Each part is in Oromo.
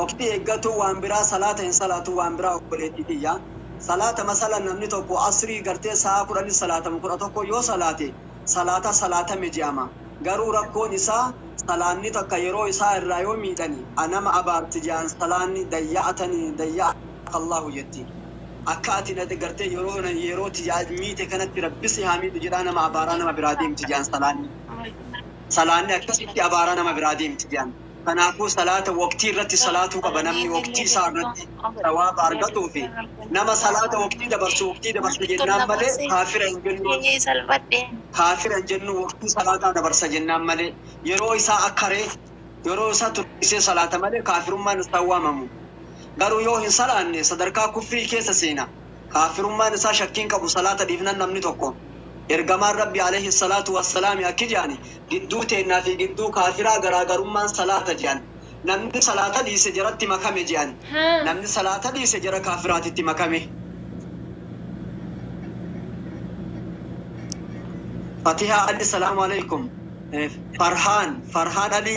waqtii eeggatuu waan biraa salaata hin salaatu waan biraa obboleettii tiyya salaata masala namni tokko asrii gartee sa'aa kudhanitti salaatamu kudha tokko yoo salaate salaata salaatame je'ama garuu rakkoon isaa salaanni takka yeroo isaa irraa yoo miidhani a nama abaarti je'an salaanni dayya'atani dayya'aka allaahu jetti akka ati na gartee yeroo na yeroo tiyya miite kanatti rabbi si haa miidhu jedhaa nama abaaraa nama biraa deemti je'an salaanni salaanni akkasitti abaara nama biraa deemti je'an. Kanaafuu salaata waqtii irratti salaatuu qaba namni waqtii isaa irratti sawaaba argatuufi. Nama salaata waqtii dabarsu waqtii dabarsa jennaan malee kaafira hin jennu. Kaafira hin jennu waqtii salaataa dabarsa jennaan malee. Yeroo isaa akkare, yeroo isaa tursiisee salaata malee kaafirummaan isaan waamamu. Garuu yoo hin salaanne sadarkaa kufrii keessa seena. kaaffirummaan isaa shakkii hin qabu salaata dhiifnan namni tokko Ergamaan Rabbii aleyhi salaatu wassalaami akki je'ani gidduu teennaa fi gidduu kaaffiraa garaagarummaan salaata je'an namni salaata dhiise jaratti makame je'an namni salaata dhiise jara kaaffiraatitti makame Fatihaa Ali Salaamu Aleykum Farhaan Farhaan Ali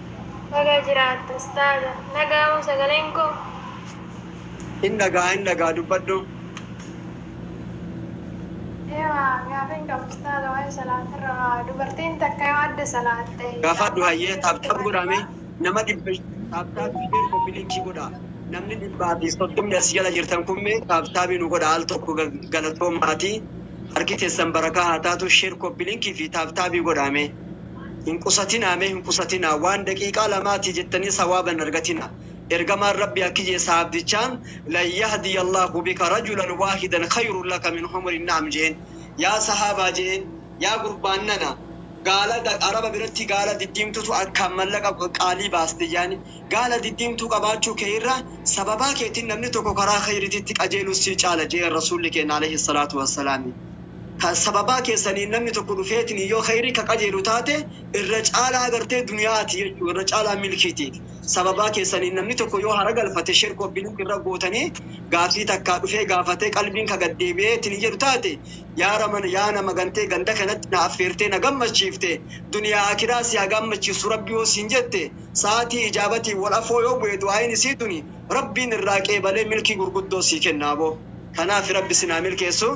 Baga jiraatte ustaaza. Dhaga'amoo sagaleen koo? Hin dhaga'a hin dhaga'a dubbadhu. Eewa gaafiin qaba ustaaza waa'ee salaatirra waa dubartiin takka yoo adda salaatte Gaafadhu hayyee taap taap godhaa mee nama dhibba taap taabii mee kopi linkii godhaa namni dhibbaa fi soddomni as jala jirtan kun mee taap taabii nu godhaa al tokko ga- galatoo maatii harki keessan barakaa haa taatu sheer kopi linkii fi taap taabii godhaa mee. Hin qusatinaa mee hin qusatinaa waan daqiiqaa lamaatii jettanii sawaaba hin argatinaa Ergamaan Rabbii akki je'e sahaabdichaan Lan yahdiyallaahu bika rajulan waahidan khayrun laka min humuri na'am je'een Yaa sahaabaa je'een Yaa gurbaan nana gaala araba biratti gaala diddiimtutu akkaan mallaqa qaalii baasti je'ani gaala diddiimtuu qabaachuu kee irra sababaa keetin namni tokko karaa khayrititti qajeelun sii caala je'een Rasuulli keenna aleyhi salaatu wassalaami Ka sababaa keessaniin namni tokko dhufeetiniin yoo kheyrii ka qajeelu taate irra caalaa gartee duniya'aati jechu'u, irra caalaa milkiitiiti. Sababaa keessaniin namni tokko yoo haragalfate shirk obbiliik irra gootanii gaaffii takkaa dhufee gaafatee qalbiin ka gad deebi'eetiniin jedhu taate yaa raman yaa nama gantee ganda kanatti na affeertee na gammachiifte duniyaa aakhiraa si ha gaammachiifsu rabbi yoo siin jette sa'aatii ijaabatiin wal afoo yoo bu'e du'aayiin isii tuni rabbiin irraa qeebalee milkii gurguddoo sii kenna aboo kanaafi rabbi isin haa milkeessu.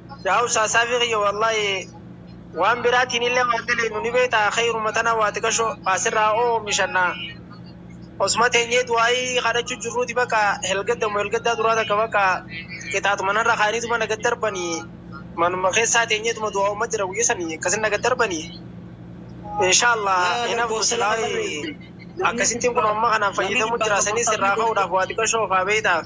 Yaa ustaaz saafii kiyya wallahi waan biraatiin illee waan daleynu ni beekta khayruma tana waa xiqashoo asirraa oomishanna osuma teenyee du'aayii kadhachuu jirruuti bakka helgadda mo helgaddaa duraa takka bakka qixaaxuma narra kaaniituma na gad darbanii manuma keessaa teenyeetuma du'aa'uma jira guyya sanii akkasin na gad darbanii inshaallah hinafu silaayi akkasittiin kun amma kanaan fayyadamu jira sanis irraa ka'uudhaaf waa xiqashoo ofaa beektaaf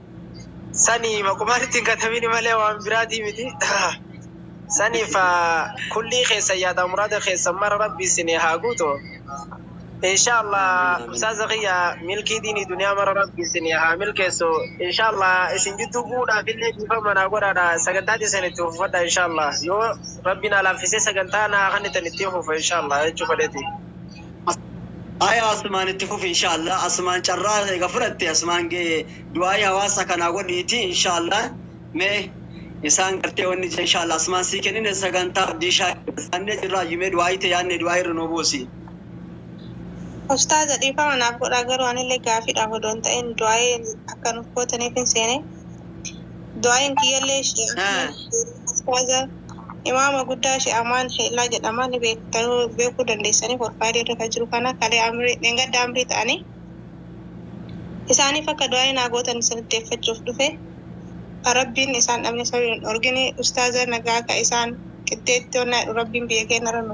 Sani maqumaa nutti hin katabini malee waan biraatii miti. Saniif kullii keessan yaadaa muraada keessan mara rabbi isinii haa guutu. Inshaallah ustaaza kiyya milkii diinii duniyaa mara rabbi isinii haa milkeessu. Inshaallah isin jidduu bu'uudhaaf illee dhiifama naa godhaadha sagantaa teessan itti fufadha inshaallah yoo rabbi naa laaffisee sagantaa naa kannitan ittiin fufa inshaallah jechuu fedheeti. Aya asumaan itti fufi inshallah asumaan carraa ega fudhatte asumaan gee du'aa'ii hawaasa kanaa godhiiti inshallah mee isaan gartee wanni jee inshallah asumaan sii kennine sagantaa abdii shaakir saannee jirraa ayyumee du'aa'ii te yaanne du'aa'ii irra nuu buusi. Ustaaza dhiifama naaf godhaa garuu anillee gaafiidhaaf odoo hin ta'in du'aa'ii akka nuuf gootaniifin seene du'aa'iin kiyyallee ustaaza imaama guddaa Sheikh Amaan Sheellaa jedhama ni beektu beekuu dandeessanii forfaayilii irra kan jiru kana kalee amrii dheengadda amrii ta'anii isaaniif akka du'aa'ii naa gootan isin iddeeffachuuf dhufe kan rabbiin isaan dhabne sabiin hin dhorgine ustaaza nagaa ka isaan qixxeetti onnaa jedhu rabbiin biyya keenya irra nu